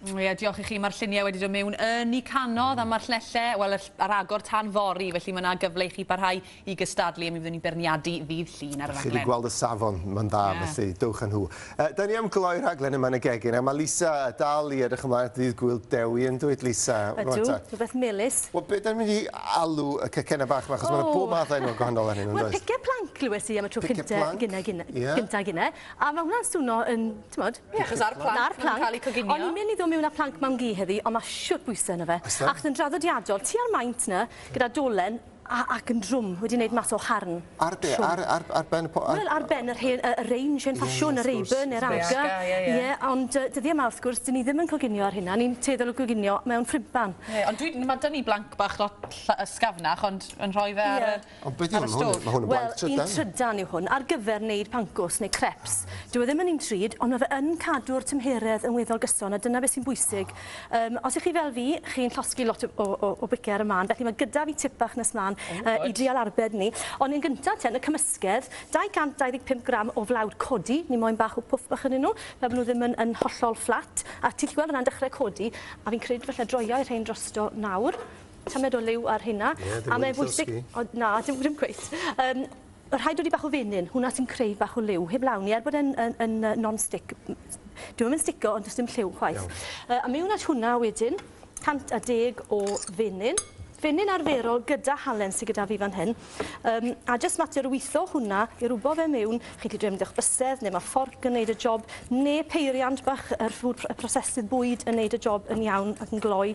Ie, diolch i chi. Mae'r lluniau wedi dod mewn yn y canodd a mae'r llelle, wel, ar agor tan fory, felly mae yna gyfle i chi barhau i gystadlu a mi fyddwn ni'n beirniadu ddydd Llun ar y rhaglen. Chi wedi gweld y safon, mae'n dda, felly dewch â nhw. Da ni am gloi'r rhaglen yma yn y gegin, a mae Lisa dal i edrych ymlaen at ddydd Gŵyl Dewi, yn dwyt Lisa? Ydw, rhywbeth melys. Wel, be da ni'n mynd i alw y cacennau bach yma, achos mae yna bob math o enwau gwahanol arnyn nhw, yn does? Wel, pice plank glywes i am y tro cyntaf gynne, a mae hwnna'n swno yn, timod, Ie, achos ar planc, ar planc. Cael eu coginio. O'n i'n mynd i ddod miwn â planc mam gu heddi, ond ma' shwt bwyse yno fe. Oes e? Achos yn draddodiadol, tua'r maint 'na, gyda dolen, a ac yn drwm, wedi neud mas o harn. Ar be'? Trwm. Ar ar ar ben y po- ar... Wel, ar ben yr hen yy y range hen ffasiwn... Ie, ie, wrth gwrs. ...y Rayburn ne'r Asda. Yr Asda, ie, ie. Ie, ond yy dyddie 'ma, wrth gwrs, 'dyn ni ddim yn coginio ar hynna, ni'n tueddol o goginio mewn ffrympan. Ie, ond dwi, ma' 'da ni blanc bach lot ll- ysgafnach, ond yn rhoi fe ar y... Ie. Ond be 'di hwn? Hwn, ma' hwn yn blanc trydan. Wel, un trydan yw hwn, ar gyfer neud pancwrs neu crepes. Dyw e ddim yn un drud, ond ma' fe yn cadw'r tymheredd yn weddol gyson, a dyna beth sy'n bwysig. Yym, os 'ych chi fel fi, chi'n llosgi lot o o o bice ar y man, felly ma' gyda fi tip bach nes mlan yy i dreial arbed ni. Ond yn gynta te, yn y cymysgedd, 225 gram o flawd codi, ni moyn bach o pwff bach ynnyn nw, fel bo' nw ddim yn yn hollol fflat, a ti 'llu gweld fyn 'na yn dechre codi, a fi'n credu falle droiai rhein drosto nawr. tamed o liw ar hynna. Ie, dim wedi llosgi. O, na, dim, dim cweit. Um, rhaid wedi bach o fenyn, hwnna sy'n creu bach o liw. Heb lawn i, er bod e'n yn, yn, yn non-stick, dwi'n mynd stico, ond does dim lliw chwaith. Uh, a mewn at hwnna wedyn, 110 o fenyn. Fenyn arferol gyda halen sydd gyda fi fan hyn. Um, a jyst mater o weithio hwnna i rwbo fe mewn. Chi wedi mynd eich bysedd, neu mae fforc yn neud y job, neu peiriant bach yr ffwd prosesydd bwyd yn neud y job yn iawn ac yn gloi.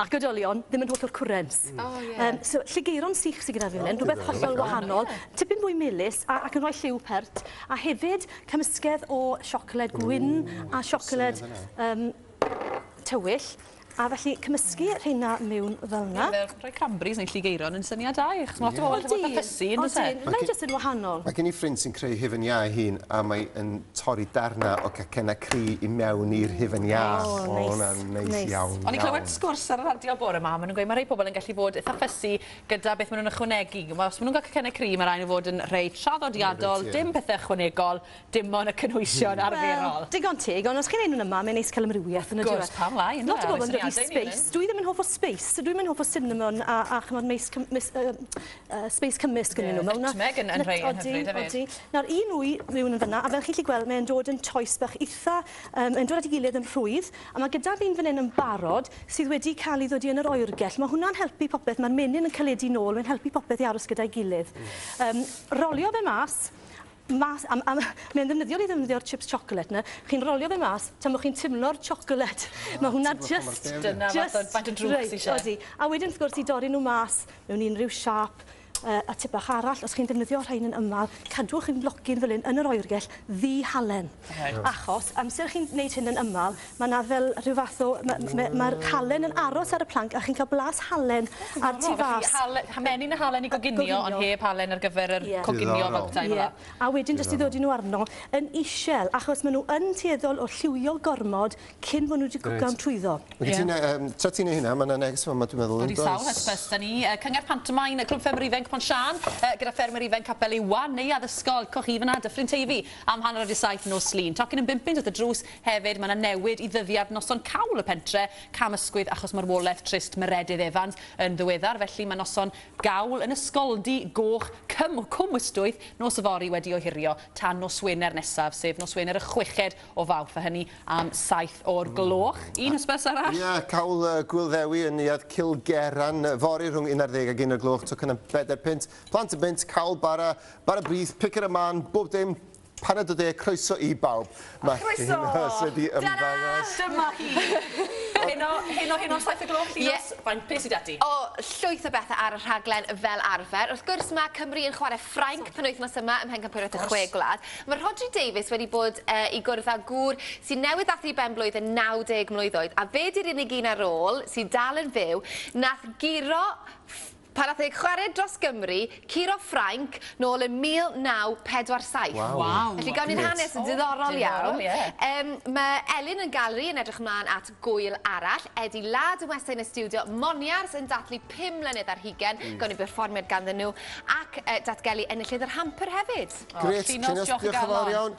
ac oedolion ddim yn hollol currents. Mm. Oh, yeah. Um, so, lligeiron sych sydd gyda fi fan hyn, rhywbeth hollol wahanol, tipyn fwy melus a, ac yn rhoi lliw pert, a hefyd cymysgedd o siocled gwyn a siocled um, tywyll. A felly cymysgu rheina mewn fel yna. Ie, rhoi cranberries neu lligeiron yn syniad da i, achos mae lot o bobl yn bod yn ffysu, yn dweud. Mae'n jyst yn wahanol. Mae gen i ffrind sy'n creu hefyd iau hun, a mae'n torri darnau o gacennau cri i mewn i'r hufen iâ. O, neis. O, hwnna'n neis iawn, iawn. O'n i'n clywed sgwrs ar y radio bore 'ma, maen nhw'n gweud mae rhai pobl yn gallu bod eitha fussy gyda beth maen nhw'n ychwanegu. Os maen nhw'n cael cacennau cri, mae rhaid nhw fod yn rhai traddodiadol, dim pethau ychwanegol, dim ond y cynhwysion arferol. Wel, digon teg, ond os chi'n neud nhw'n yma, mae'n neis cael amrywiaeth yn y diwedd. Wrth gwrs, pam lai, yndyw e? Lot o bobl yn dod i Space. Dwi ddim yn hoff o Space, dwi ddim yn hoff o cinnamon a chimod, mace, uh, space cymysg yn yeah, nhw. Fel nutmeg yn, yn rhai yn hyfryd hefyd. Odi. Nawr, un wy rhywun yn fyna, a fel chi'n gallu gweld, mae'n dod yn toes bach eitha, um, yn dod at ei gilydd yn rhwydd, a mae gyda fi'n fan hyn yn barod sydd wedi cael ei ddodi yn yr oergell. Mae hwnna'n helpu popeth, mae'r menyn yn caledu nôl, mae'n helpu popeth i aros gyda'i gilydd. Um, rolio fe mas, mas am am mae'n ddefnyddiol i ddefnyddio'r chips chocolate 'na chi'n rolio fe mas tan bo chi'n timlo'r chocolate ah, ma' hwnna just dyna fath o faint o drwg sy isie odi a wedyn wrth gwrs i dorri nhw mas mewn unrhyw siap uh, a tip bach arall os chi'n defnyddio rhain yn ymal cadwch yn blocyn fel hyn yn yr oergell ddi halen Achos amser chi'n wneud hyn yn ymal, mae 'na fel rhyw fath o... ma' ma' ma'r halen yn aros ar y planc a chi'n cael blas halen ar tu fas. Felly hale- ha- menyn a halen i goginio... Goginio. ...ond heb halen ar gyfer yr... Ie. ...coginio... Diddorol. ...fel petai fela. Ie. A wedyn jyst i ddodi nhw arno yn isel achos ma' nhw yn tueddol o lliwio gormod cyn bo' nhw 'di cwcan... Reit. ...trwyddo. Ie. Felly ti'n yy yym tra ti'n neu' hynna ma' 'na neges fama dwi'n meddwl yndoes? Wedi sawl hysbys 'da ni yy cyngerdd pantomain Clwb Ffermwyr Ifenc Pont Siân yy gyda ffermwyr ifenc Capel Iwan, neuadd ysgol, coch chi fyn 'na, Dyffryn Teifi. Am hanner wedi saith nos Llun. Tocyn yn bum punt at y drws. Hefyd, mae 'na newid i ddyddiad noson cawl y pentre'. Cam ysgwydd achos marwolaeth trist Meredydd Evans yn ddiweddar, felly mae noson gawl yn Ysgoldy Goch Cwm Cwm Ystwyth nos yfory wedi ohirio tan nos Wener nesaf, sef nos Wener y chweched o Fawrth, a hynny am saith o'r gloch. Un hysbys arall. Ie, cawl y Gŵyl Ddewi yn neuadd Cilgerran fory rhwng unarddeg ac un o'r gloch, tocyn am bedair punt. Plant yn bunt, cawl bara Bara brith, pick it a man, bob dim, paned o de, croeso i bawb. Mae Croeso! Llun Huws wedi ymddangos. Tara! Dyma hi! Heno, heno, heno am saith o gloch, Llinos. Ie. Faint, be' sy 'da ti? O, llwyth o bethe ar y rhaglen fel arfer. Wrth gwrs, ma' Cymru yn chware Ffrainc penwythnos yma ym Mhencampwriaeth y Chwe Gwlad. Ma' Rhodri Davies wedi bod yy i gwrdd â gŵr sy'n newydd ddathlu ben-blwydd yn 90 mlwydd oed, a fe 'di'r unig un ar ôl, sy dal yn fyw, nath guro ff- Pan nath e chwarae dros Gymru, curo Ffrainc, nôl yn 1947. Waw! Waw! Felly gawn ni'r hanes yn diddorol iawn. O, diddorol, ie. Yym, ma' Elin yn Gallery yn edrych ymlan at gŵyl arall. Eddie Ladd yn westai yn y stiwdio, Moniars yn dathlu pum mlynedd ar hugen, gawn ni berfformiad ganddyn nhw, ac yy datgelu enillydd yr Hamper hefyd. O, llinos, diolch yn fawr iawn.